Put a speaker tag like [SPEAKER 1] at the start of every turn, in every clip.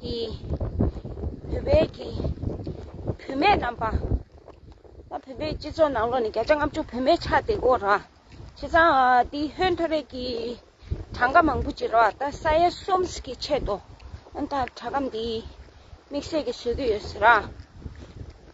[SPEAKER 1] ཀྱི། བུད་མེད་ཀྱི། བུད་མེད་རྣམས་པ། ད་བུད་མེད་སྤྱི་ཚོགས་ནང་ལོ་ནི་བརྒྱ་ཆ་ལྔ་བཅུ་བུད་མེད་ཆགས་བསྡད་གོ་ར། བྱས་ཙང་དེའི་ཧོན་ཐོ་རེ་ཀྱི། གྲངས་ཀ་མང་པོ་བྱེད་རོགས་ད་ས་ཡ་གསུམ་ཀྱི་ཆེད་དུ། ཨོན་ད་གྲ་ཁམ་དེའི། དམིགས་བསལ་གྱི་བཟོས་ཀྱི་ཡོད་ཟེར་ར།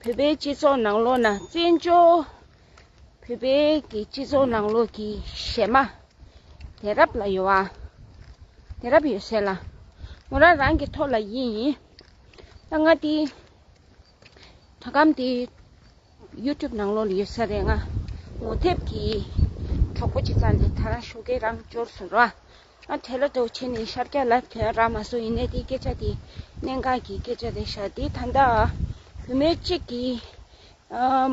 [SPEAKER 1] བོད་པའི་སྤྱི་ཚོགས་ནང་ལོགས་ན་བཙན་བྱོལ་བོད་པའི་གི་སྤྱི་ཚོགས་ནང་ལོགས་ཀྱི་གཞས་མ་དེ་རབ་ལ་ཡོད་ཨ། དེ་རབ་ཡོད་སེ་ལ་ངོ་རང་རང་གི་ཐོག་ལ་ཡིན་ཡིན་ད་ང་དེ་དྲ་ཁམ་དེ YouTube ནང་ལོགས་ལ་ཡོད་ས་རེད་ང་ངོ་དེབ་ཀྱི་གྲོགས་པོ་ཅིག་ཙང་དེ་ད་རང་ཤོ་གས་རང་འབྱོར་སོ་ར་དེ་ལ་དོགས་ཆེ་ནས་ཤར་སྐྱ་ལ་དོན་ར་མ་སོ་ཡིན་ནས་དེའི་སྐད་ཆ་དེ་གནད་འགག་གི་སྐད་ཆ་རེད་ཤག་དེ་ད་ལྟ་བུ་མོའི་གཅིག་གི་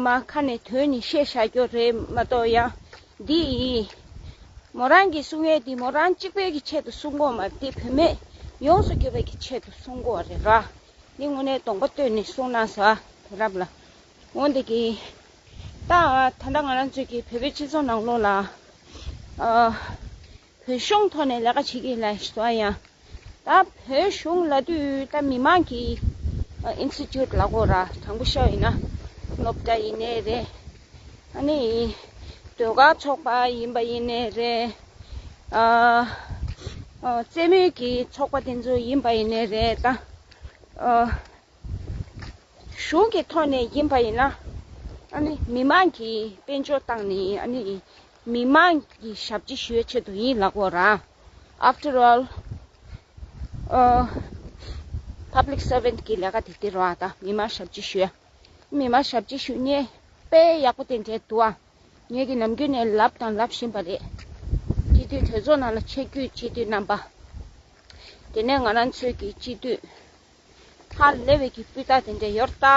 [SPEAKER 1] མ་ཁ་ནས་དོན་ནི་བཤད་བཞག་རྒྱུ་རེད་མ་གཏོགས་ཡང་འདི་ཡིན། མོ་རང་གིས་གསུང་བའི་དེ་མོ་རང་གཅིག་པོའི་གི་ཆེད་དུ་གསུང་དགོས་མ་རེད་དེ་བུ་མེད་ཡོངས་སུ་གྱུར་པའི་གི་ཆེད་དུ་གསུང་དགོས་བ་རེད་ར་འདི་དངོས་གནས་དོགས་པ་བཏོན་ནས་གསུང་གནང་ས་དེ་རབས་ལ་འོང་འདི་གི་ད་ད་ལྟ་ང་རང་ཚོའི་གི་བོད་པའི་སྤྱི་ཚོགས་ནང་ལོགས་ལ། བོད་གཞུང་ཐོག་ནས་ལས་ཀ་བྱེད་ཀྱི་ལ་སོ་ཡང་ད་བོད་གཞུང་ལ་དུས་ད་མི་མང་གི Institute ལ་གོ་ར་དྲང་པོ་ཤོག་ཡིན་ན་སློབ་གྲ་ཡིན་ནའི་རེད་ཨ་ནི་ཟློས་གར་ཚོགས་པ་ཡིན་པ་ཡིན་ནའི་རེད་ཨ་རྩེད་མོ་གི་ཚོགས་པ་དེ་ཚོ་ཡིན་པ་ཡིན་ནའི་རེད་ད་གཞུང་གི་ཐོག་ནས་ཡིན་པ་ཡིན་ན་ཨ་ནི་མི་མང་གི་དཔལ་འབྱོར་བཏང་ནས་ཨ་ནི་མི་དམངས་ཀྱི་ཞབས་ཕྱི་ཞུའི་ཆེད་དུ་ཡིན་ལགས་བོ་རང After all Public Servant གི་ལས་ཀ་དེ་དེ་རང་དང་མི་དམངས་ཞབས་ཕྱི་ཞུ་མི་དམངས་ཞབས་ཕྱི་ཞུ་ནས་དཔེ་ཡག་པོ་དེ་འབྲས་དུ་བ་ངེད་ཀྱི་ནམ་རྒྱུན་ནས་ལབ་དང་ལབ་བཞིན་པ་རེད་སྤྱི་འཐུས་གྲོས་ཚོགས་ནང་ལ་ཆེ་རྒྱུས་སྤྱི་འཐུས་རྣམ་པ་དེ་ནས་ང་རང་ཚོས་ཀྱི་སྤྱི་འཐུས། སྔར་ལས་བོད་ཀྱི་སྤུས་རྟགས་དེ་འདྲའི་ཡོད་ད།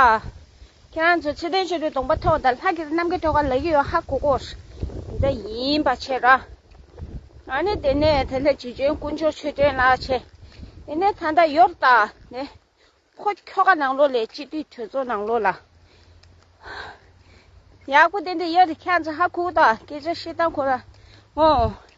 [SPEAKER 1] ཁྱེད་རང་ཚོས་ཚེ་ཏན་ཆོས་འཕེལ་གདོང་པ་ཐོག་དང་ལྷ་ཁེ་སི་གནམ་སྐས་ཐོག་ཁ་ལག་གཡུ་ཡོག་ཧ་གོ་གོ། འདི་ཡིན་པ་ཆེ་ར། ང་ནི་དེ་ནས་དེ་ལྷ་ཇི་བྱོན་དཀོན་མཆོག་ཆོས་སྒྲོན་ལགས་ཆེ། དེ་ནས་ད་ལྟ་ཡོད་ད་ནི། ཁོ་ཁྱོ་ག་ནང་ལོགས་ལས་སྤྱི་འཐུས་གྲོས་ཚོགས་ནང་ལོགས་ལ། ཡག་པོ་དེ་འདྲ་ཡོད་ད་ཁྱེད་རང་ཚོ་ཧ་གོ་གོ་ད་སྐད་ཆ་བཤད་སྟངས་ཁོ་ར་ངོ།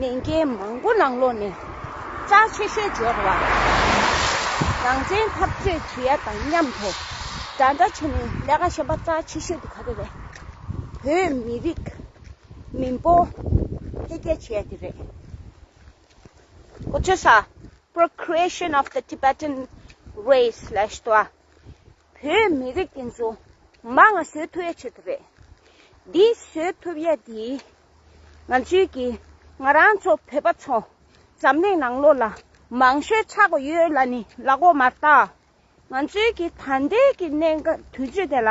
[SPEAKER 1] ནན་སྐད་མང་པོ་ནང་ལོག་ནས་ལྕགས་ཆེ་ཤོས་སྦྱོར་བ། རང་བཙན་འཐབ་རྩོད་བྱེད་ཡ་དང་མཉམ་དུ་འདྲ་འདྲ་བྱས་ནས་ལས་ཀ་བྱེད་པ་ལྕགས་ཆེ་ཤོས་འདི་ག་རེ་རེད། བོད་མི་རིགས་མི་འབོ་འཕེལ་རྒྱས་བྱེད་ཡ་འདི་རེད། ཨོ་ཅོ་ས། Procreation of the Tibetan Race ལ་ཞེས་པ། བོད་མི་རིགས་ཀྱི་འཛུམ་མ་ང་བཟོད་ཐུབ་ཡ་ཆེད་དུ་རེད། འདི་བཟོད་ཐུབ་ཡ་དེ་ང་ཚོའི་ཀྱི་ང་རང་ཚོ་བོད་པ་ཚོ་འཛམ་གླིང་ནང་ལོ་ལ་མང་ཤོས་ཆགས་གོ་ཡོད་ལ་ནི་ལག་འོག་མར་བཏགས་ང་ཚོའི་ཀྱི་ད་འདས་ཀྱི་གནས་དུས་ཚོད་དེ་ལ་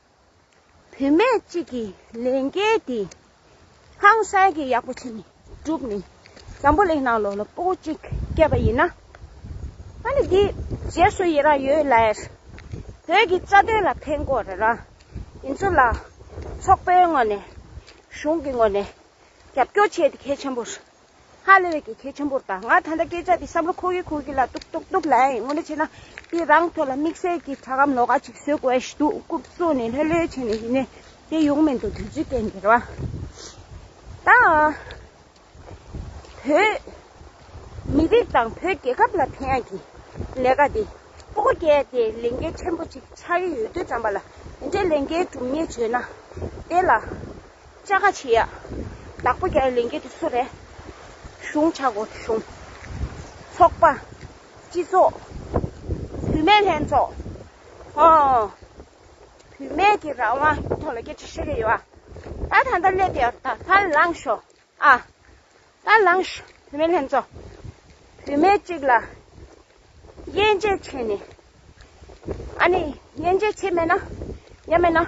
[SPEAKER 1] བུད་མེད་ཅིག་གིས་ལས་འགན་འདི་ཧང་སངས་ཀྱིས་ཡག་པོ་བྱས་ནས་བསྒྲུབས་ནས་འཛམ་བུ་གླིང་ནང་ལོ་ལོ་པོ་པོ་ཅིག་སྐྱེས་པ་ཡིན་ན། ཨ་ནི་འདིའི་རྗེས་སུ་ཡི་རང་ཡོད་ལེར་བོད་ཀྱི་རྩ་དོན་ལ་ཕན་དགོས་རེད་རང་ཡིན་ཚོད་ལ་ཚོགས་པའི་ངོས་ནས་གཞུང་གི་ངོས་ནས་རྒྱབ་སྐྱོར་བྱས་ཏེ་གལ་ཆེན་པོ་རེད། ཧ་ལས་ཀྱི་གལ་ཆེན་པོར་བལྟ། ང་ད་ལྟ་སྐད་ཆ་དེ་བསམ་བློ་ཁོག་ཡུག་ཁོག་ཡུག་ལ་ཏུག་ཏུག་ཏུག་ལངས་ཡིན་ངོ་ནས་བྱས་ན་དེ་རང་ཐོག་ལ་དམིགས་བསལ་གྱི་དྲ་གམ་ལོ་ག་ཅིག་བཟོས་དགོས་ཞེས་དུག་རྐུབ་བཙུགས་ནས་ལྷོད་ལྷོད་བྱས་ནས་ཡིན་ནའི་དེ་ཡོང་མི་འདུག་དུས་ཚོད་སྐྱེལ་འགེལ་བ་དང། བོད་མི་རིགས་དང་བོད་རྒྱལ་ཁབ་ལ་ཕན་ཡག་གི་ལས་ཀ་དེ་སྤོ་རྒྱལ་དེ་ལས་འགན་ཆེན་པོ་ཅིག་ཆགས་ཀྱི་ཡོད་དུས་བྱམས་པ་ལ་དེ་འདྲའི་ལས་འགན་སྒྲུབ་ཉེས་བྱས་ན་དེ་ལ་ལྕགས་ཁ་ཕྱེ་ཡག་བདག་པོ་རྒྱ་ལིངྒའི་དུས་སུ་རེ་ཞུང་བྱ་དགོས་བྱུང། ཚོགས་པ། སྤྱི་ཚོགས། བུད་མེད་ལྷན་ཚོགས། ཧོ། བུད་མེད་ཀྱི་རང་དབང་གི་ཐོག་ལ་སྐད་ཆ་བཤད་ཀྱི་ཡོད། ད་ད་ལྟ་སླེབས་ཡོད་ད་ད་ལངས་ཤོག་ཨ། ད་ལངས་ཤོག་བུད་མེད་ལྷན་ཚོགས། བུད་མེད་ཅིག་ལ་དབྱེ་འབྱེད་བྱས་ནས། ཨ་ནི་དབྱེ་འབྱེད་བྱས་མེད་ན་ཡ་མེད་ན།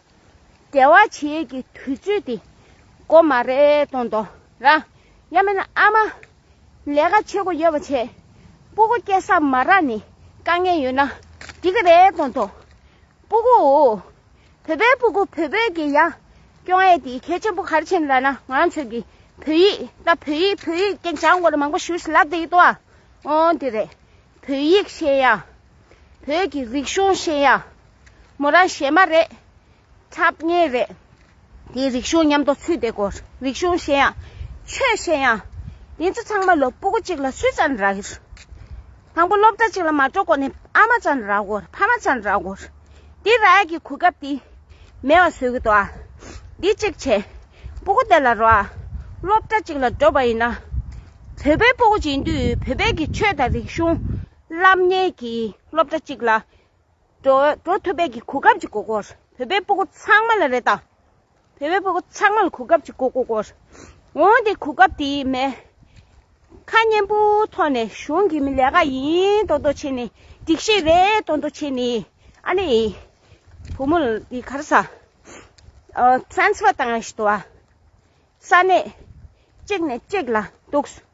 [SPEAKER 1] བདེ་བ་བྱེད་ཀྱི་དུས་ཚོད་དེ་འགོ་མ་རེ་གཏོང་དོ། རང་ཡ་མེད་ན་ཨ་མ་ལས་ཀ་བྱེད་དགོས་ཡོད་པ་བྱེད། སྤུ་གུ་སྐྱེ་ས་མ་རག་ནས་དཀའ་ངལ་ཡོད་ན་འགྲིག་གི་རེད་གཏོང་དོ། སྤུ་གུ། བོད་པའི་སྤུ་གུ་བོད་བོད་ཀྱི་ཡང་སྐྱོང་ཨེ་དེ་གལ་ཆེན་པོ་ག་རེ་བྱེད་ལ་ན་ང་ཚོས་ཀྱི་བོད་ཡིག་ད་བོད་ཡིག་བོད་ཡིག་ཀྱི་འཇང་དགོ་ལ་མང་པོ་ཞུས་ལ་དེ་ཡིག་ཏུ་ཨོ་དེ་རེད་བོད་ཡིག་ཤེས་ཡ། བོད་ཀྱི་རིག་གཞུང་ཤེས་ཡ་མོ་རང་གཞན་མ་རེད། ཐབས་ངེས་རེད། དེ་རིག་གཞུང་ཉམས་དོགས་ཚུལ་དེ་གོ་རིག་གཞུང་ཤེས་ཡ། ཆོས་ཤེས་ཡ། དེ་ཚོ་ཚང་མ་ལོ་སྤུ་གུ་གཅིག་ལ་སུས་ཙང་རག་གིར། དང་པོ་སློབ་གྲྭ་གཅིག་ལ་མ་འགྲོ་གོ་ནས་ཨ་མ་ཙང་རག་གོ་ཕ་མ་ཙང་རག་གོ། དེ་རག་ཡ་གི་གོ་སྐབས་དེ་མེད་བ་བཟོས་གི་འདུག་ཨ། འདི་གཅིག་བྱས། སྤུ་གུ་དེ་ལ་རོགས་ཨ། སློབ་གྲྭ་གཅིག་ལ་འགྲོ་བ་ཡིན་ན། བོད་པའི་སྤུ་གུ་བྱིན་དུས་བོད་པའི་གི་ཆོས་དང་རིག་གཞུང། བླ་མཉེས་ཀྱིས་སློབ་གྲྭ་གཅིག་ལ་འགྲོ་ཐུབ་པའི་གོ་སྐབས་ཀྱི་གོ་སྐོར། བོད་པའི་སྤུ་གུ་ཚང་མ་ལ་རེད་ད། བོད་པའི་སྤུ་གུ་ཚང་མ་ལ་གོ་སྐབས་ཀྱི་གོ་སྐོར། འོན་ཏེ་གོ་སྐབས་དེ་མེད། ཁ་སྙན་པོ་ཐོག་ནས་གཞུང་གི་མི་ལས་ཀ་ཡིན་དོ་དོ་བྱས་ནས་སྒྲིག་གཞི་རེད་དོ་དོ་བྱས་ནས་ཨ་ནི་བུ་མོ་དེ་ག་རེ་ས Transfer བཏང་ཡག་ཤི་དོ་ཨ། ས་གནས་གཅིག་ནས་གཅིག་ལ་འདུག་སོང།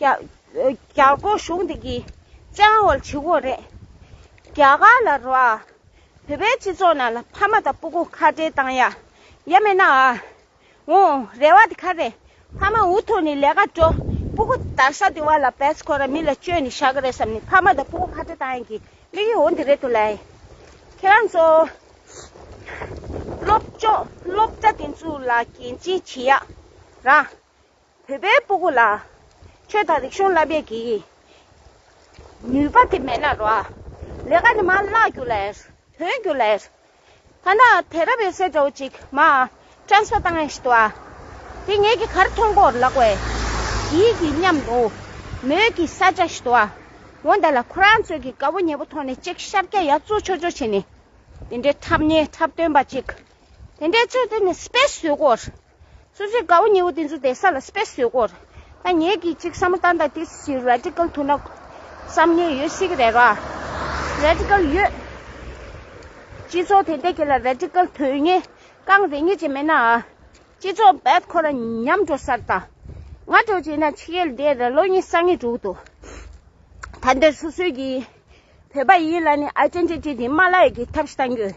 [SPEAKER 1] རྒྱ་སྒོར་གཞུང་འདི་གི་ཅང་བོ་ཆི་ཧོ་རེད། རྒྱ་གར་ལ་རོ་ཨ། བོད་པའི་སྤྱི་ཚོགས་ནང་ལ་ཕ་མ་དང་སྤུ་གུ་ཁ་བྲལ་བཏང་ཡ། ཡ་མེད་ན་ཨ། འོ། རེ་བ་དེ་ག་རེད། ཕ་མ་འུ་ཐུག་ནི་ལས་ཀ་འགྲོ། སྤུ་གུ་དར་ཤ་དེ་བ་ལ་བེད་ཁོ་ར་མི་ལ་བཅོལ་ནི་ཤ་གི་རེད་བསམ་ནི་ཕ་མ་དང་སྤུ་གུ་ཁ་བྲལ་བཏང་ཡ་གི་དམིགས་ཡུལ་འོ་འདི་རེད་དོ་ལའི། ཁྱེད་རང་ཚོ། སློབ་སྦྱོང་སློབ་གྲ་དེ་ཚོའུ་ལ་གན་ཅིན་བྱེད་ཡ། ར། བོད་པའི་སྤུ་གུ་ལ། ཆོས་དང་རིག་གཞུང་བསླབ་པའི་གི། ནུས་པ་དེ་མེད་ན་རོ། ལས་ཀ་ནི་མ་བཀླགས་རྒྱུ་ལས། དོན་རྒྱུ་ལས། ཐ་ན་དེ་རབས་ཡོད་སའི་འདྲ་བོ་ཅིག་མ། Transfer བཏང་ཡང་ཤི་ཏོ་ཨ། དེ་ངེད་ཀྱི་གར་མཐོང་སྐོར་ལགས་བས། གིས་ཀྱི་སྙམ་དུ། མོད་ཀྱི་ས་ཆ་ཤི་ཏོ་ཨ། འོ་ད་ལ་ཁོ་རང་ཚོས་ཀྱི་དགའ་བོ་ཉེ་པོ་མཐོང་ནས་ཅིག་ཤར་སྐྱ་ཡག་བཙུགས་ཆོག་ཆོག་བྱས་ནས། དེ་འདྲའི་འཁྲབ་སྙན་འཁྲབ་སྟོན་པ་ཅིག། དེ་འདྲའི་ཚོད་བཏོན་ནས Space བཟོས་སྐོར། སོ་སོའི་དགའ་བོ་ཉེ་བོ་དེ་ཚོ་དེ་ས་ལ་སྤེལ་བཟོད་དགོས། ད་ངེད་ཀྱིས་ཅིག་བསམ་བློ་བཏང་དང་དེ་བཞིན Radical ཐུག་ན་བསམ་ཉེས་ཡོད་སྲིད་ཀྱི་རེད་བ། Radical ཡོད། སྤྱི་ཚོགས་དེ་འད་ཀྱི་ལ Radical དོན་གཉེར་རྐང་རེ་གཉིས་ཅིག་མེད་ན་ཨ། སྤྱི་ཚོགས་འད་ཁོ་ར་ཉམས་འགྲོ་སར་དང་ང་འགྲོ་བྱེད་ན་ཕྱི་ཡལ་འདས་ར་ལོ་གཉིས་སང་ངེ་འགྲོ་གི་འདུག་ད་འདིར་སོ་སོའི་གིས་བོད་པ་ཡིན་ལ་ནི Identity དེ་མ་ལ་ཡོད་ཀྱི་ཐབས་ཤིག་བཏང་རྒྱུ།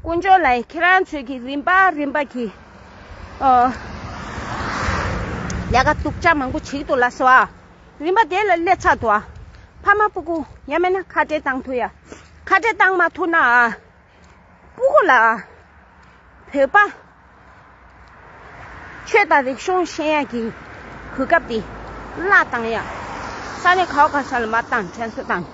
[SPEAKER 1] དཀོན་མཆོག་ལ་ཡང་ཁྱེད་རང་ཚོས་ཀྱིས་རིམ་པ་རིམ་པ་གྱིས་ལས་ཀ་སྡུག་ཅག་མང་པོ་བྱེད་ཀྱི་འདུག་ལགས་སོ། རིམ་པ་དེ་ལ་སླེབས་ཚར་དུ་ཕ་མ་སྤུ་གུ་ཡང་མེད་ན་ཁ་བྲལ་བཏང་ཐུབ་ཡ། ཁ་བྲལ་བཏང་མ་ཐུབ་ན་སྤུ་གུ་ལ་བོད་པ་ཆོས་དང་རིག་གཞུང་ཤེས་ཡོན་གྱི་གོ་སྐབས་དེ་བླ་བཏང་ཡང། ས་གནས་ཁག་གང་ས་ལ་མ་བཏང་དྲན་གསོ་དང།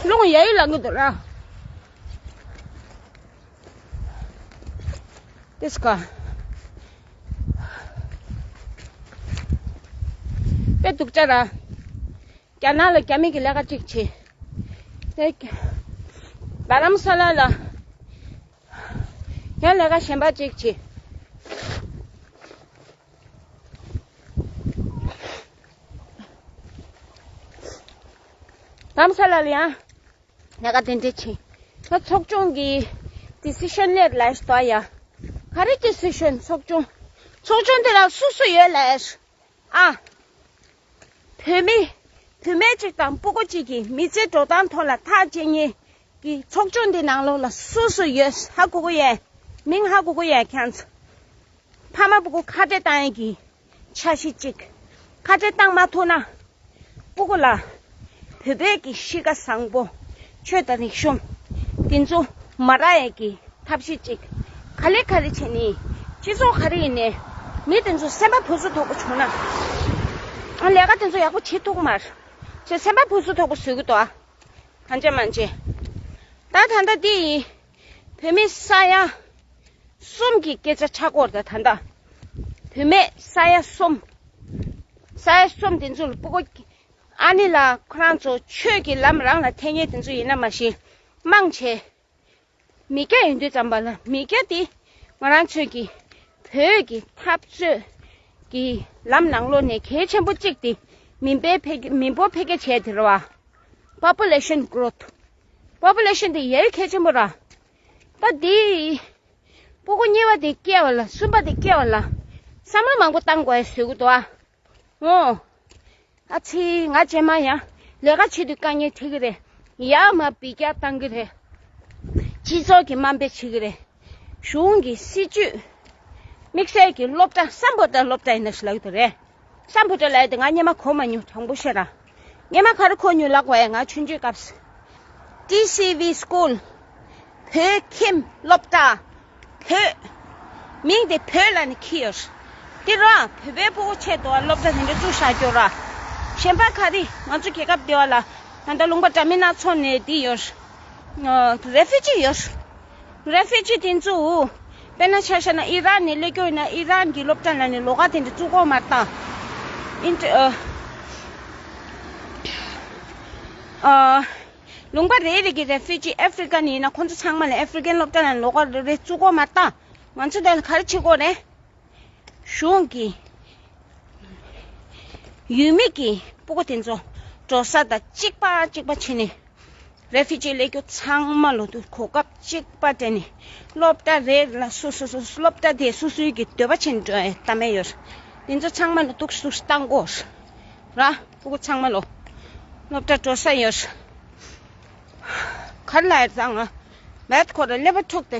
[SPEAKER 1] ལུང་གཡས་གཡོན་ལ་ངུ་འདུག་ར་ཏི་སི་ཀ། དཔེ་དུག་ཅག་ར། རྒྱ་ནག་ལ་རྒྱ་མིག་གི་ལས་ཀ་ཅིག་བྱེད། རྡ་རམ་ས་ལ་ལ་ཡང་ལས་ཀ་གཞན་པ་ཅིག་བྱེད། རྡ་རམ་ས་ལ་ལ་ཡང་ལས་ཀ་དེ་འདྲ་བྱེད། ཚོགས་ཆུང་གི Decision ལས་ལས་ཟློག་ཡ། ག་རེ Decision ཚོགས་ཆུང་ཚོགས་ཆུང་དེ་ལ་སུ་སུ་ཡོད་ལས། ཨ། བུད་མེད། བུད་མེད་ཅིག་དང་སྤུ་གོ་གཅིག་གིས་མི་ཚེའི་འགྲོ་སྟངས་ཐོག་ལ་ཐག་བཅད་ཉིན་གྱི་ཚོགས་ཆུང་འདི་ནང་ལོགས་ལ་སུ་སུ་ཡོད་ཧ་གུ་གུ་ཡན། མིང་ཧ་གུ་གུ་ཡན་ཁྱང་ཚ། ཕ་མ་སྤུ་གུ་ཁ་བྲལ་བཏང་ཡས་ཀྱི་འཆར་གཞི་གཅིག། ཁ་བྲལ་བཏང་མ་ཐུག་ན་པོ་གོ་ལ། བོད་བོད་ཀྱི་གཤིས་ཀ་བཟང་པོ། ཆོས་དང་རིག་གཞུང། དེ་ཚོ་མ་རག་ཡས་ཀྱི་ཐབས་ཤེས་ཅིག་ག་ལེ་ག་རེ་བྱས་ནས་སྤྱི་ཚོགས་ག་རེ་ཡི་ནས་མི་དེ་ཚོ་སེམས་པ་ཕུ་སུ་ཐོག་པོ་བྱུང་ན་ལས་ཀ་དེ་ཚོ་ཡག་པོ་བྱེད་ཐུག་མར་ཚོས་སེམས་པ་ཕུ་སུ་ཐོག་པོ་བཟོས་གི་འདུག་ཨ། གང་བྱས་མ་བྱས་ད་ད་ལྟ་དེ་ཡི། བུད་མེད་ས་ཡ་གསུམ་གྱི་སྐད་ཆ་ཕྲག་སྐོར་དང་ད་ལྟ་བུད་མེད་ས་ཡ་གསུམ། ས་ཡ་གསུམ་དེ་ཚོ་ལ་སྤུ་གོ། ཨ་ནི་ལགས་ཁོ་རང་ཚོ་ཆོས་ཀྱི་ལམ་རང་ལ་འཐད་ཉེན་དེ་ཚོ་ཡིན་ན་མ་གཞི་དམངས་ཆེ། མི་སྐྱ་ཡིན་དུས་ཙམ་པ་ལ་མི་སྐྱ་དེ་ང་རང་ཚོས་ཀྱི་བོད་ཀྱི་འཐབ་རྩོད་ཀྱི་ལམ་ནང་ལོ་ནས་གལ་ཆེན་པོ་གཅིག་དེ་མི་འབོར་འཕེལ་རྒྱས་བྱས་དེ་རེད་བ། Population Growth། Population དེ་ཡལ་ཁད་ཆེན་པོ་ར། པ་དེའི། པོ་གོ་གཉིས་པ་དེ་སྐྱེ་བ་ལ་གསུམ་པ་དེ་སྐྱེ་བ་ལ། བསམ་བློ་མང་པོ་བཏང་དགོས་ཟེར་གི་འདུག་ཨ། ངོ། ཨ་ཚི་ང་སྤྱན་མ་ཡང་ལས་ཀ་བྱེད་དུས་དཀའ་ངལ་འཕྲད་ཀྱི་རེད། ཡ་མ་བི་རྒྱ་བཏང་གི་རེད། སྤྱི་ཚོགས་ཀྱི་དམའ་འབེབས་བྱེད་ཀྱི་རེད། གཞུང་གི་སྲིད་ཇུས། དམིགས་བསལ་གྱི་སློབ་གྲྭ་སམ་བོད་དོན་སློབ་གྲྭ་ཡིན་ན་ཞིག་ལ་ཡོད་དུ་རེད། ཤམ་བུ་དྲོད་ལས་དེ་ང་སྙེ་མ་གོ་མ་ཉུང་དྲང་པོ་ཤེས་ར་སྙེ་མ་ག་རུ་གོ་ཉུང་ལགས་བས་ང་ཆུ་འཇུས་སྐབས་སུ TCV School བོད་ཁྱིམ་སློབ་གྲྭ་བོད་མིང་དེ་བོད་ལ་ནས་ཁྱི་ཡོད་དེ་ར་བོད་པའི་སྤོ་བོ་ཆེད་དུ་བ་སློབ་གྲྭ་དེ་འདྲ་བཙུགས་བཞག་རྒྱུ་ར་ཞེན་པ་ག་རི་ང་ཚོ་རྒྱལ་ཁབ་དེ་བ་ལ་ད་ལྟ་ལུང་པ་འདྲ་མི་སྣ་ཚོ་ནས་དེ་ཡོད Refugee ཡོད། རེ་ཕེ་ཅི་དེ་ཚོའུ། དཔེར་ན་ཆ་ཤ་ན་ཨི་རག་ནས་སླེབས་ཀྱི་ཡོད་ན་ཨི་རག་གི་སློབ་གྲྭ་ན་ནས་ལོ་ག་དེ་འདྲ་བཙུགས་གོ་མ་ད། ཨིན་ཏི་ཨི། ཨ། ལུང་པ་རེ་རེ་གི་རེ་ཕེ་ཅི་ཨེ་ཕི་ཀ་ནས་ཡིན་ན་ཁོ་ཚོ་ཚང་མ་ལ་ཨེ་ཕི་ཀན་སློབ་གྲྭ་ན་ལོ་ག་རེ་རེ་བཙུགས་གོ་མ་ད། ང་ཚོ་དེ་ལ་ག་རེ་བྱེད་དགོས་རེད། གཞུང་གི་ཡུལ་མི་གི་སྤུ་གོ་དེ་ཚོ་འབྲོ་ས་དང་གཅིག་པ་གཅིག་པ་བྱེད་ནས Refugee གླེ་རྒྱུ་ཚང་མ་ལོ་དུས་གོ་སྐབས་གཅིག་པ་སྤྲད་ནས་སློབ་གྲྭ་རེ་ལ་སུ་སུ་སུ་སློབ་གྲྭ་དེ་སུ་སུའི་གི་འདོད་པ་བྱེད་འགྲོ་ཡའི་གཏམ་མེད་ཡོད་དེ་ཚོ་ཚང་མ་ལོ་དུག་སུས་བཏང་གོ་ར་སྤུ་གོ་ཚང་མ་ལོ་སློབ་གྲྭ་འགྲོ་ས་ཡོད་གར་ལ་ཡོད་ཚང་མ་བད་ཁོ་ར་གླེ་པ་ཕྲུག་དེ་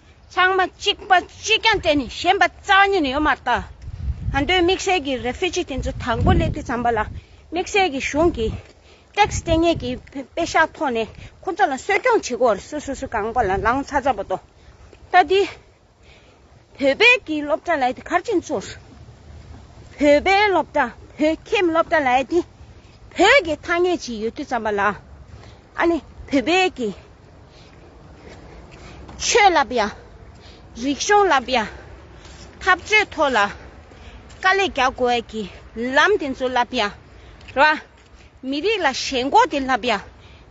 [SPEAKER 1] ཚང་མ་གཅིག་པ་གཅིག་རྐྱང་བསྟེན་ནས་གཞན་པ་རྩ་བ་ཉིད་ནས་ཡོད་མ་རྟ། ཨ་མདོའི་དམིགས་བསལ་གྱི་རེ་ཕི་ཅི་དེ་ཚོ་དང་པོ་སླེབས་དུས་ཚངས་པ་ལགས་དམིགས་བསལ་གྱི་གཞུང་གི། Tax། ལྟེ་གནས་ཀྱི་དཔེ་ཤག་ཐོག་ནས་ཁོ་ཚོ་ལ་གསོད་རྐྱང་བྱེད་སྒོར་སུ་སུ་སུ་གང་པོ་ལ་ལངས་ཚར་ཚར་པོ་འདུག་ལྟ་དུས། བོད་པའི་གི་སློབ་གྲྭ་ལའི་དེ་མཁར་ཆེན་ཚོར། བོད་པའི་སློབ་གྲྭ་བོད་ཁྱིམ་སློབ་གྲྭ་ལའི་དེ་བོད་ཀྱི་ཐ་སྙད་ཅིག་ཡོད་དུས་ཚངས་པ་ལགས་ཨ་ནི་བོད་པའི་གི། ཆོས་ལབ་ཡ། རིག་གཞུང་ལབ་ཡ། འཐབ་རྩོད་ཐོག་ལ་དཀའ་ལས་རྒྱག་དགོས་ཡ་གི་ལམ་དེ་ཚོ་ལབ་ཡ། ར། མི་རིགས་ལ་ཞེན་ཁོག་དེ་ལབ་ཡ།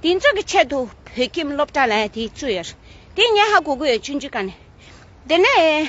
[SPEAKER 1] དེ་ཚོ་གི་ཆེད་དུ་བོད་ཁྱིམ་སློབ་གྲྭ་ལ་དེ་བཙུགས་ཡ། དེ་ཉེ་ཧ་གོ་གི་ཡོད་ཅུང་ཅུང་ཀ་ནས། དེ་ནས།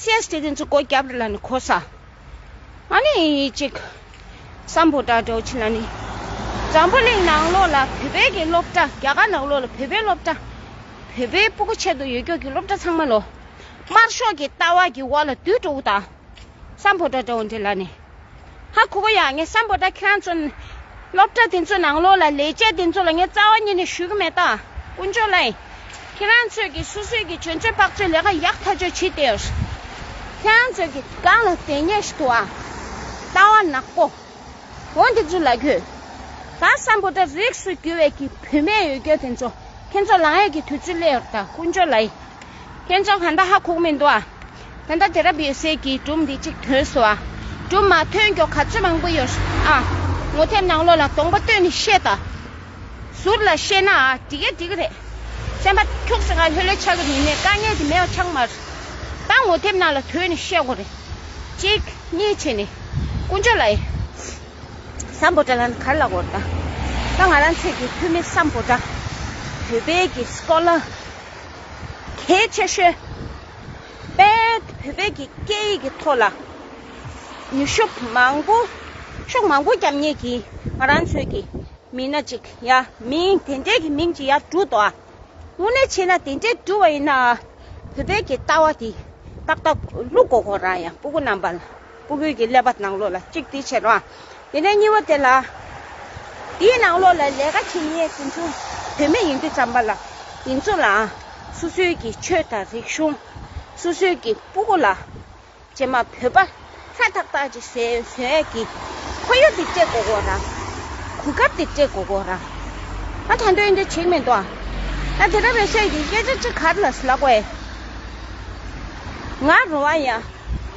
[SPEAKER 1] སེར་སྐྱ་དེ་ཚོ་སྒོ་རྒྱབ་རེ་ལ་ནི་ཁོ་ས་ང་ནི་ཡིན་ཡིན་ཅིག་བསམ་བོ་དྲག་དྲོ་ཕྱི་ལ་ནི་འཛམ་བུ་གླིང་ནང་ལོགས་ལ་བོད་པའི་གི་སློབ་གྲྭ་རྒྱ་གར་ནང་ལོགས་ལ་བོད་པའི་སློབ་གྲྭ་བོད་པའི་སྤུ་གུ་ཆེད་དུ་ཡོད་སྐྱོ་གི་སློབ་གྲྭ་ཚང་མ་ལོ་དམར་ཤོག་གི་ལྟ་བ་གི་འོག་ལ་དུད་འགྲོ་བོ་དང་བསམ་བོ་དྲག་དྲོ་བོ་འདི་ལ་ནི། ཧ་གོ་གོ་ཡ་ངས་བསམ་པོ་ད་ཁྱོད་ཚོ་སློབ་གྲྭ་དེ་ཚོའི་ནང་ལོགས་ལ་ལས་བྱེད་དེ་ཚོ་ལ་ངས་རྩ་བ་ཉིད་ནས་ཞུ་གི་མེད་ད་དཀོན་མཆོག་ལའི་ཁྱེད་རང་ཚོས་ཀྱི་སོ་སོས་ཀྱི་གྱོན་ཆོས་པགས་ཆོས་ལས་ཀ་ཡག་ཐག་ཆོད་བྱེད་དེ་ཁྱོད་རང་ཚོས་ཀྱི་སྒང་ལ་དེ་ཉེ་ཞིག་ཏུ་ཨང་ལྟ་བ་ནག་པོ་བོ་དེ་ཚོ་ལ་གྱོད་ད་བསམ་པོ་ད་རིགས་སུ་གྱུར་བའི་ཀྱི་བུད་མེད་ཡོད་གྱོད་དེ་ཚོ་ཁྱོད་ཚོ་ལང་ཡས་ཀྱི་དུས་ཚོད་སླེ་ཡོད་ད་དཀོན་མཆོག་ལའི་ཁྱོད་ཚོ་གང་ད་ཧ་གོ་གི་མི་འདུག་ཨང། ད་ལྟ་དེ་རབས་ཡོད་སའི་གི་སྒྲུབ་འདི་གཅིག་ཐོན་སོ། སྒྲུབ་མ་ཐོན་མགྱོགས་ག་ཚོད་མང་པོ་ཡོད། ཨ། ངོ་ཐེབས་ནང་ལོགས་ལ་སྟོང་པ་བསྟོད་ནས་བཤད་ད། ཟུར་ལ་བཤད་ན་ཨ་འགྲིག་ཨ་འགྲིག་རེད། སེམས་པ་འཁྱུག་སེ་ང་ལྷོད་ལྷོད་ཆགས་ཀྱི་མི་མེད་དཀའ་ངལ་དེ་མེད་བ་ཆགས་མ་རེད། ད་ངོ་ཐེབས་ནང་ལ་དོད་ནས་བཤད་དགོས་རེད། གཅིག། གཉིས་བྱས་ནས། དཀོན་མཆོག་ལ་ཡི། སམ་བོ་ཏྲ་ལ་གར་ལ་གོར་ད། ད་ང་རང་ཚོད་ཀྱི་འཐུས་མི་སམ་བོ་ཏྲ། བོད་པའི་གི་སྐོར་ལ། གལ་ཆེ་ཤོས། པས་བོད་པའི་སྐད་ཡིག་གི་ཐོག་ལ་ནུས་ཤུགས་མང་པོ་ཤུགས་མང་པོ་བརྒྱབ་ངེས་ཀྱི་ང་རང་ཚོའི་གི་མི་སྣ་ཅིག་ཡ་མིང་དེ་འདྲས་གི་མིང་ཅིག་ཡ་གྲུ་དོ་ཨ་དངོས་གནས་བྱས་ན་དེ་འདྲས་གྲུ་བ་ཡིན་ན་བོད་པའི་གི་ལྟ་བ་དེ་ཏག་ཏག་ལུག་གོ་གོ་རང་ཡང་པུ་གུ་རྣམ་པ་ལ། སྤུ་གུད་ཀྱི་ཀླད་པ་ནང་ལོགས་ལ་གཅིག་དེའི་ཕྱིར་རོ། དེ་ནས་གཉིས་པོ་དེ་ལ། དེའི་ནང་ལོགས་ལ་ལས་ཀ་བྱེད་ཉེས་ཟིན་ཆུང་བུད་མེད་ཡིན་དུས་བརྩམས་པ་ལ་ཡིན་ཚུལ་ལའང་སོ་སོའི་ཀྱི་ཆོས་དང་རིག་གཞུང། སོ་སོའི་ཀྱི་སྤུ་གུ་ལ། ཅེས་མ་བོས་པ་ལྷ་ཐག་ཐག་ཅིག་ཟེར་ཟེར་ཡས་ཀྱི། ཁོ་གཡོ་དེ་སྤྲེལ་གོ་གོ་རང། གུ་གབ་དེ་སྤྲེལ་གོ་གོ་རང། ང་ད་འདོད་འདོད་བྱེད་མི་འདོད། ད་དེ་ར་བའི་སྲས་ཀྱི་སྐད་ཆ་གཅིག་གར་ལ་ལགས་པས། ང་རུང་བ་ཡང།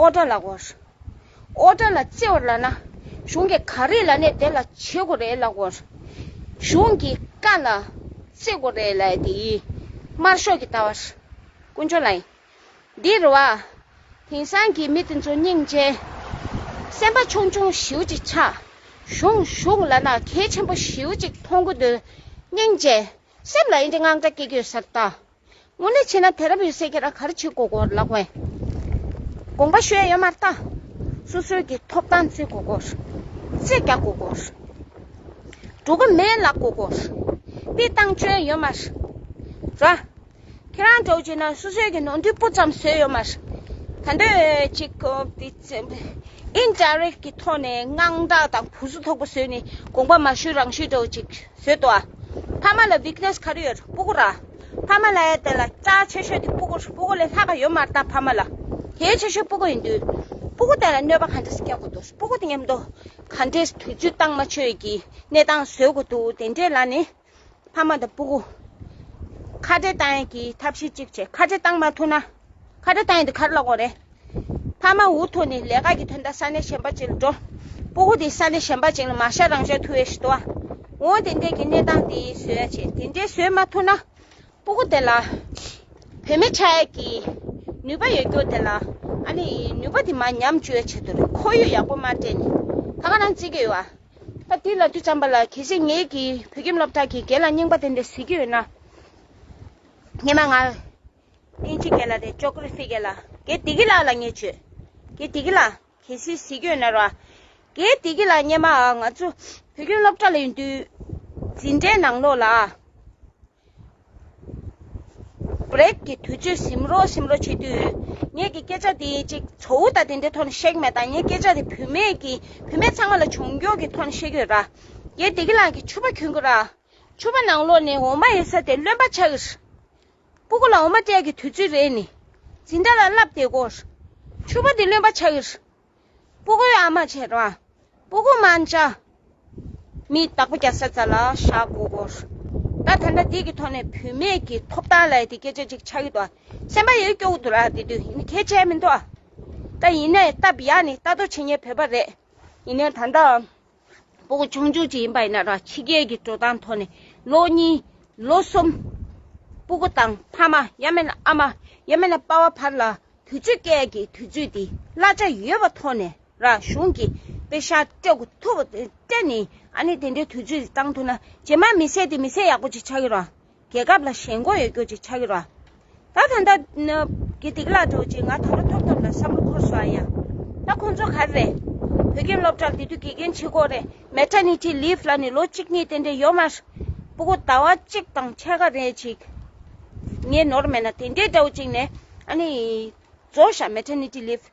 [SPEAKER 1] ཨོ་ཏྲ་ལགས། ཨོ་ཏྲ་ལ་བརྩེ་བར་ལགས་ན། གཞུང་གི་ག་རེ་ལ་ནས་དེ་ལ་བྱེད་དགོས་རེད་ལགས། གཞུང་གི་བཀའ་ལ་བརྩེ་དགོས་རེད་ལ་དེ་ཡི་དམར་ཤོག་གི་ལྟ་བ། དཀོན་མཆོག་ལ་ཡིན། འདི་རུ་བ། དེང་སང་གི་མི་དེ་ཚོ་སྙིང་རྗེ། སེམས་པ་ཆུང་ཆུང་ཞིའུ་ཅིག་ཆགས། གཞུང་གཞུང་ལ་ན་གལ་ཆེན་པོ་ཞིའུ་ཅིག་མཐོང་གི་འདུག་སྙིང་རྗེ། སེམས་ལ་ཨེ་འདྲི་དངངས་སྐྲག་སྐྱེ་རྒྱུ་ཟེར་ལྟ། སྔོན་ལས་ཆེ་ན་དེ་རབ་ཡོད་སྲས་ཁྱེད་རང་ག་རེ་བྱེད་དགོས་སྐོར་ལ་བཀོད། དགོངས་པ་ཤོད་ཡོད་མ་རྟ། སོ་སོའི་གི་ཐོབ་ཐང་རྩི་དགོས་སྐོར། རྩི་རྒྱག་དགོས་སྐོར། འགྲོ་གི་མེད་ལག་དགོས་སྐོར། སྤི་བཏང་བཅོལ་ཡོད་མ་ར། ཁྱེད་རང་འགྲོ་བྱེད་ན་སོ་སོའི་གི་ནོར་འདུས་སྤུ་ཙམ་བཟོས་ཡོད་མ་ར། ད་འདོད་གཅིག་གི་འདི་ཨིན་ཏྲ་རེད་གི་ཐོག་ནས་དངངས་སྐྲག་དང་བུ་གཟུགས་ཐོག་པོ་བཟོས་ནས་དགོངས་པ་མ་ཤོད་རང་ཤོད་འགྲོ་གཅིག། བཟོད་དོ། ཕ་མ་ལ weakness ག་རེ་ཡོད་རུང་སྤུ་གུར་ར། ཕ་མ་ལ་ཡང་དེ་ལ་རྩ་བ་ཆེ་ཤོས་དེ་སྤུ་གུར་སྤུ་གུར་ལས་ལྷག་ག་ཡོད་མ་བལྟ་ཕ་མ་ལ་དེའི་ཆེ་ཤོས་སྤུ་གུར་ཡིན་དུས། སྤུ་གུར་དེ་ལ་གནོད་པ་ག་འདྲ་ཞིག་བསྐྱལ་དགོས་འདུག་སྤུ་གུར་དེ་ཉམས་དོ། ག་འདྲའི་དུས་ཚོད་སྟངས་མ་ཆོས་ཀྱི་གནས་སྟངས་བཟོད་དགོས་འདུག་དེ་འདྲའི་ལ་ནི། ཕ་མ་དང་སྤུ་གུར་ཁ་བྲལ་གཏང་ཡུལ་གྱི་ཐབས་ཤེས་གཅིག་བྱེད་ཁ་བྲལ་གཏང་མ་ཐུབ་ན། ཁ་བྲལ་གཏང་ཡུལ་དེ་ག་རེ་ལ་དགོངས་རེད། ཕ་མ་འུ་ཐུག་ནས་ལས་ཀ་གི་དོན་དང་ས་གནས་གཞན་པ་ཅིག་ལ་འགྲོ། སྤུ་གུ་དེ་ས་གནས་གཞན་པ་ཅིག་ལ་མ་ཤར་རང་ཤར་ཐུ་བའི་ཤི་ཏོ། འོང་དེ་འདྲས་ཀྱི་གནས་སྟངས་དེ་ཡིན་བཟོས་ཡ་བྱས་དེ་འདྲས་བཟོས་མ་ཐུ་ན། སྤུ་གུ་དེ་ལ། བུད་མེད་ཆགས་ཡས་ཀྱི། ནུས་པ་ཡོད་སྐྱོ་དེ་ལ། ཨ་ནི། ནུས་པ་དེ་མ་ཉམས་བཅོས་ཡ་བྱས་ཐུ་རེད་ཁོ་ཡོད་ཡག་པོ་མ་སྤྲད་ནས། ད་ག་རང་བརྩི་གི་ཡོད་ཨ། ད་དུས་ལ་དུས་ཙམ་པ་ལ་གལ་སྲིད་ངེད་ཀྱི་བོད་ཁྱིམ་སློབ་གྲགས་ཀྱི་སྒེར་ལ་རྙིང་པ་དེ་འདྲས་ཟེར་གྱི་ཡོད་ན། ངེད་མ་ང། ཨེན་ཅི་གེ་ལ་དེ་ཅོ་ཀུ་རི་སི་གེ་ལ་གེ་དི་གི་ལ་ལ་ངས་བྱོས། གེ་དི་གི་ལ་གེ་སི་སི་གོས་ནར་བ། གེ་དི་གི་ལ་སྙེ་མ་ཨ་ང་ཚོ་བུ་ཁྱོད་སློབ་གྲྭ་ལ་ཡོད་དུས། འཛིན་གྲྭའི་ནང་ལོགས་ལ། Break གི་དུས་ཚོད་ཟིམ་རོ་ཟིམ་རོ་བྱེད་དུས། ངས་གི་སྐད་ཆ་དེ་ཅིག་ཚོ་བུ་དང་དེ་འདྲའི་ཐོག་ནས་བཤད་གི་མེད་ད་ངས་སྐད་ཆ་དེ་བུད་མེད་གི་བུད་མེད་ཚང་མ་ལ་བྱུང་རྒྱུག་གི་ཐོག་ནས་བཤད་གི་ཡོད་ར། གེ་དི་གི་ལ་གེ་ཆུ་བ་གྱོན་གི་ར། ཆུ་བ་ནང་ལོགས་ནས་འོ་མ་ཡེ་ས་དེ་རློན་པ་ཆགས། སྤུ་གུ་ལ་འོ་མ་སྤྲད་ཀྱི་དུས་ཚོད་རེད་ནི། འཛིན་གྲྭ་ལ་བསླབ་བདེ་སྒོར། ཕྱུ་པ་འདི་ལོན་པ་ཆགས་ཀྱི། སྤུ་གུའི་ཨ་མ་ཆེ་དྲག། སྤུ་གུ་དམར་འཇགས། མི་རྟག་པ་རྒྱ་ས་ཚ་ལ་བཞག་དགོས་སྒོར། ད་ད་འདྲ་འདི་གི་ཐོག་ནས་བུད་མེད་ཀྱི་ཐོབ་ཐང་ལ་དེ་སྐད་ཆ་ཅིག་ཆགས་ཀྱི་འདུག་ཨ། སེམས་པ་ཡོད་སྐྱོ་གི་འདུག་ལ་དེ་དུས་ཡིན་ནི་གལ་ཆེ་མི་འདུག་ཨ། ད་ཡིན་ནའི་སྟབས་ཡག་ནི་ལྟ་རྟོག་བྱེད་ཉེན་བོད་པ་རེད། ཡིན་ནའི་ད་ལྟའང། པོ་མཆོང་སྦྱོང་བྱེད་ཡིན་པ་ཡིན་ན་རང་ཕྱི་རྒྱལ་གྱི་འགྲོ་སྟངས་ཐོག་ནས་ལོ་གཉིས་ལོ་གསུམ། སྤུ་གུ་དང་ཕ་མ་ཡང་མིན་ན་ཨ་མ་ཡང་མིན་ན་དཔའ་བ་བར་ལ་དུས་ཚོད་སྐལ་གྱི་དུས་ཚོད་དེ་གླ་ཆ་ཡོད་པ་ཐོག་ནས་རང་གཞུང་གི་དཔེ་ཤག་སྤྲད་གོ་ཐུབ་སྤྲད་ནས་ཨ་ནི་དེ་འདྲའི་དུས་ཚོད་དེ་བཏང་ཐུབ་ན་ཇེ་མང་མི་སད་དེ་མི་སད་ཡག་པོ་ཅིག་ཆགས་ཡོད་རང་རྒྱལ་ཁབ་ལ་ཞེན་འགོག་ཡོད་རྒྱུ་ཅིག་ཆགས་ཀྱི་རོ། ད་ད་ད། དགེ་སྡིག་བླ་གྲོགས་ཀྱིས་ང་ད་རུ་ཐོབ་ཐོབ་ལ་བསམ་བློ་འཁོར་སོང་ཡ། ད་ཁོང་ཚོ་ག་རེད། བོད་རྒན་སློབ་གྲྭར་དེ་དུས་དགེ་རྒན་ཆེ་ཁོག་རེད Maternity Leave ལ་ནི་ལོ་གཅིག་གཉིས་ཏན་ཏན་ཡོད་མ་རེད། པུ་གུ་ཟླ་བ་གཅིག་དང་ཕྱེད་ཀ་རེད་ཅིག། ངས་ནོར་མེད་ན་དེ་འདྲའི་འདྲ་བོ་ཅིག་ནས་ཨ་ནི། རྫོགས་བཞག Maternity Leave།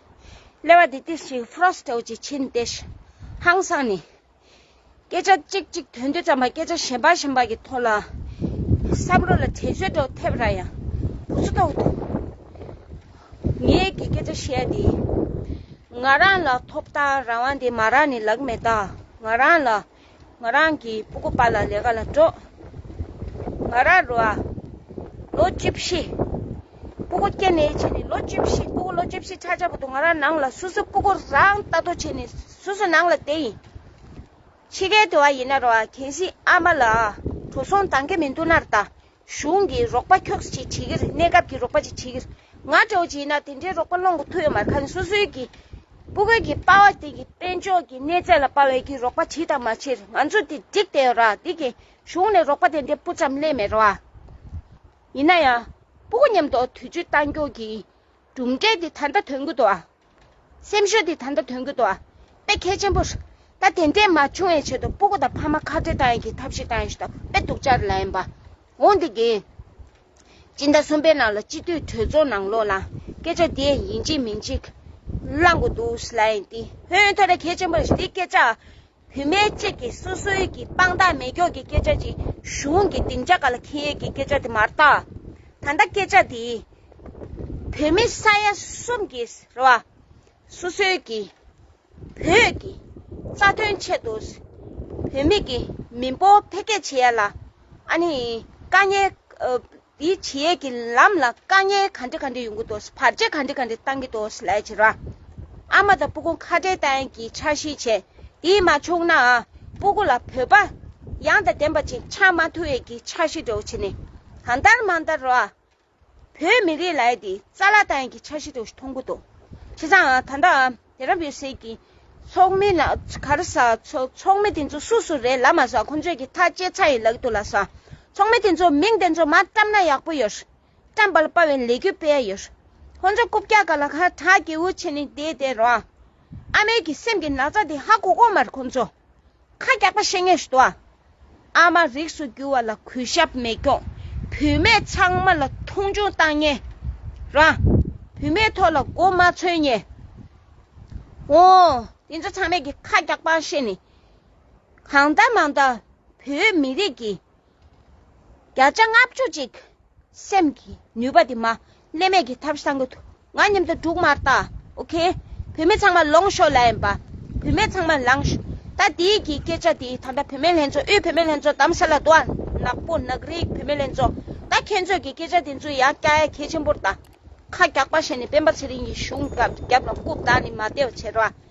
[SPEAKER 1] ཀླད་པ་དེ་ཏིལ་ཞིག་ཕུ་རོག་སི་ཏོག་ཅིག་ཕྱིན་ཏེ། ཧང་སང་ནས། སྐད་ཆ་ཅིག་གཅིག་དོན་དུ་བརྩམས་པ་སྐད་ཆ་གཞན་པ་གཞན་པ་གི་ཐོག་ལ། བསམ་བློ་ལ་དྲན་གསོའི་སྒྲོག་ཐེབས་ར་ཡང། ཕུ་སི་ཏོག་དུ། ངས་གི་སྐད་ཆ་བཤད་དེ། ང་རང་ལ་ཐོབ་ཐང་རང་དབང་དེ་མ་རག་ནི་ལག་མེད་ད། ང་རང་ལ། ང་རང་གི་སྤུ་གུ་པ་ལ་ལས་ཀ་ལ་འགྲོ། ང་རང་རོ་ཨ། ལོ་བཅུ་བཞི། སྤུ་གུ་སྐྱེ་ནས་བྱས་ནས་ལོ་བཅུ་བཞི་སྤུ་གུ་ལོ་བཅུ་བཞི་ཆགས་ཆགས་པོ་འདུག་ང་རང་ནང་ལ་སུ་སུ་སྤུ་གུ་རང་ལྟ་ཐོ་བྱས་ནས་སུ་སུ་ནང་ལ་བསྡད་ཡིན། འཆི་ཁའི་དུ་བ་ཡིན་ན་རོ་ཨ་གལ་སྲིད་ཨ་མ་ལ་གྲོ་སོང་འདང་གི་མི་འདུག་ནར་ལྟ་གཞུང་གི་རོགས་པ་ཁྱོགས་ཅིག་བྱེད་ཀྱིར་གནས་སྐབས་ཀྱི་རོགས་པ་ཅིག་བྱེད་ཀྱིར་ང་སྤྲོ་བྱེད་ན་དེ་འདྲའི་རོགས་པ་སློང་གི་ཐུག་ཡོད་མ་རེད་ཁ་ནས་སོ་སོའི་གི་སྤུ་གོལ་གྱི་དཔའ་བ་དེ་གི་དཔལ་འབྱོར་གྱི་གནས་ཚད་ལ་དཔའ་བའི་གི་རོགས་པ་བྱེད་དང་མ་བྱེད་ང་ཚོ་དེ་འགྲིག་བསྡད་ཡོད་ར་དེ་གི་གཞུང་ནས་རོགས་པ་དེ་འདྲའི་སྤུ་ཙམ་གླས་མེད་ར་ཡིན་ན་ཡང་སྤུ་གོ་མཉམ་དུ་དུས་ཚོད་གཏང་རྒྱུག་གི་གྲུབ་འབྲས་དེ་ད་ལྟ་ཐོན་གྱི་འདུག་ཨ། སེམས་ཤུགས་དེ་ད་ལྟ་ཐོན་གྱི་འདུག་ཨ་དཔེ་གལ་ཆེན་པོ་རེད། ད་དེ་འདྲས་མ་བྱུང་བའི་ཆེད་དུ་སྤུ་གུ་དང་ཕ་མ་ཁ་བྲལ་བཏང་ཡོད་ཀྱི་ཐབས་ཤིག་བཏང་ཡོད་ཞེས་ད་དཔེ་དུག་ཅར་ལ་ཡིན་པ་འོང་དེ་གིན། སྤྱི་ཟླ་གསུམ་པའི་ནང་ལ་སྤྱི་འཐུས་གྲོས་ཚོགས་ནང་ལོག་ན་སྐད་ཆ་དེ་ཡིན་གཅིག་མིན་གཅིག་བསླང་དགོས་འདུག་ལ་ཡིན་ཏེ་ཧོན་ཐོ་ར་གལ་ཆེན་པོ་རེད་དེ་སྐད་ཆ་བུད་མེད་ཅིག་གིས་སོ་སོའི་གི་དཔང་རྟགས་མེད་སྐྱོགས་ཀྱི་སྐད་ཆ་ཅིག་གཞུང་གི་སྡིངས་ཆ་ག་ལ་ཁེལ་ཡས་ཀྱི་སྐད་ཆ་དེ་མར་བཏགས། ད་ལྟ་སྐད་ཆ་དེ་བོད་མི་ས་ཡ་གསུམ་གྱིས་རེད་བ། སོ་སོའི་གི་བོད་ཀྱི་རྩ་དོན་ཆེད་དུ་བུད་མེད་ཀྱི་མི་འབོར་འཕེལ་རྒྱས་བྱེད་ཡས་ལ་ཨ་ནི་དཀའ་ཉེ། དེའི་བྱེད་ཡས་ཀྱི་ལམ་ལ་དཀའ་ངལ་ག་འདྲི་ག་འདྲི་ཡོང་གི་འདུག་ཟེར་བར་རྗེས་ག་འདྲི་ག་འདྲི་བཏང་གི་འདུག་ཟེར་ལས་བྱེད་ར་ཨ་མ་དང་སྤུ་གུ་ཁ་བྲལ་བརྟན་གྱིས་འཆར་གཞི་བྱས་དེས་མ་ཆོག་ནའང་སྤུ་གུ་ལ་བོད་པ་ཡང་དང་ལྡན་པ་ཅིག་ཆགས་མ་ཐུབ་ཡས་ཀྱི་འཆར་གཞི་འདྲོགས་བྱེད་ནས་གང་ལྟར་མ་ལྟར་ར་བོད་མི་རིགས་ལ་ཡས་དེ་རྩ་ལ་བརྟན་གྱི་འཆར་གཞི་འདྲོགས་གཞི་མཐོང་གི་འདུག་བྱས་ཙང་ད་ལྟའང། དེ་རབ་ཡོད་སྲིད་ཀྱི། ཚོགས་མི་ལ་གར་ཟ། ཚོགས་མི་དེ་ཚོ་སུ་སུ་རེད་ལ་མ་ཟ་ཁོ་ཚོས་ཀྱི་ཐག་བཅད་ཚར་ཡིན་ལགས་འདུག་ལ་ཟ། ཚོགས་མི་དེ་ཚོ་མིང་དེ་ཚོ་མ་བཀྲམ་ན་ཡག་པོ་ཡོད། བཀྲམ་པ་ལ་དཔའ་བའི་ལས་གུས་སྤེལ་ཡ་ཡོད། ཁོ་ཚོ་རྐུབ་བཀྱག་ག་ལ་ཁ་གྲག་སྐྱེ་བོ་ཆེ་ནི་དེ་དེ་རོ། ཨ་མའི་གི་སེམས་ཀྱི་ན་ཚ་དེ་ཧ་གོ་གོ་མར་ཁོ་ཚོ། ཁ་རྒྱགས་པ་བཤེས་གཉེན་ཞུ་དོ། ཨ་མ་རིགས་སུ་གྱུར་བ་ལ་གུས་ཞབས་མེད་སྐྱོང། བུད་མེད་ཚང་མ་ལ་མཐོང་ཆུང་བཏང་ཉེ། རང་བུད་མེད་ཐོག་ལ་མགོ་མ་ཚོས་ཉེ། ཨོ། དེ་ཚོ་ཚང་མས་ཀྱི་ཁ་རྒྱགས་པ་བཤེས་ནི། གང་ལྟ་མང་ལྟ་བོད་མི་རིགས་ཀྱི་བརྒྱ་ཆ་ལྔ་བཅུ་གཅིག། སེམས་ཀྱི་ནུས་པ་དེ་མ་བསླད་མེད་ཀྱི་ཐབས་བསྲང་གི་ཐུགས་ང་སྙམ་དུ་དྲུག་མར་བཏགས ok བུད་མེད་ཚང་མ་ལོངས་ཤོག་ལན་པ་བུད་མེད་ཚང་མ་ལངས་ཤོག་ད་དེའི་གི་སྐད་ཆ་དེ་ད་ལྟ་བུད་མེད་ལྷན་ཚོགས་དབུས་བུད་མེད་ལྷན་ཚོགས་དམ་ས་ལ་དུའང་ནག་པོ་ནག་རིགས་བུད་མེད་ལྷན་ཚོགས་ད་ཁྱེད་ཚོས་གི་སྐད་ཆ་དེ་ཚོ་ཡང་སྐྱ་ཡ་གས་ཆེན་པོར་དང་ཁ་རྒྱག་པ་བྱས་ནས་སྤེན་པ་ཚེ་རིང་གི་གཞུང་སྐབས་རྒྱབ་ལ་རྐུབ་བཏགས་ནས་མ་བདེ་བ་བྱེད་རོགས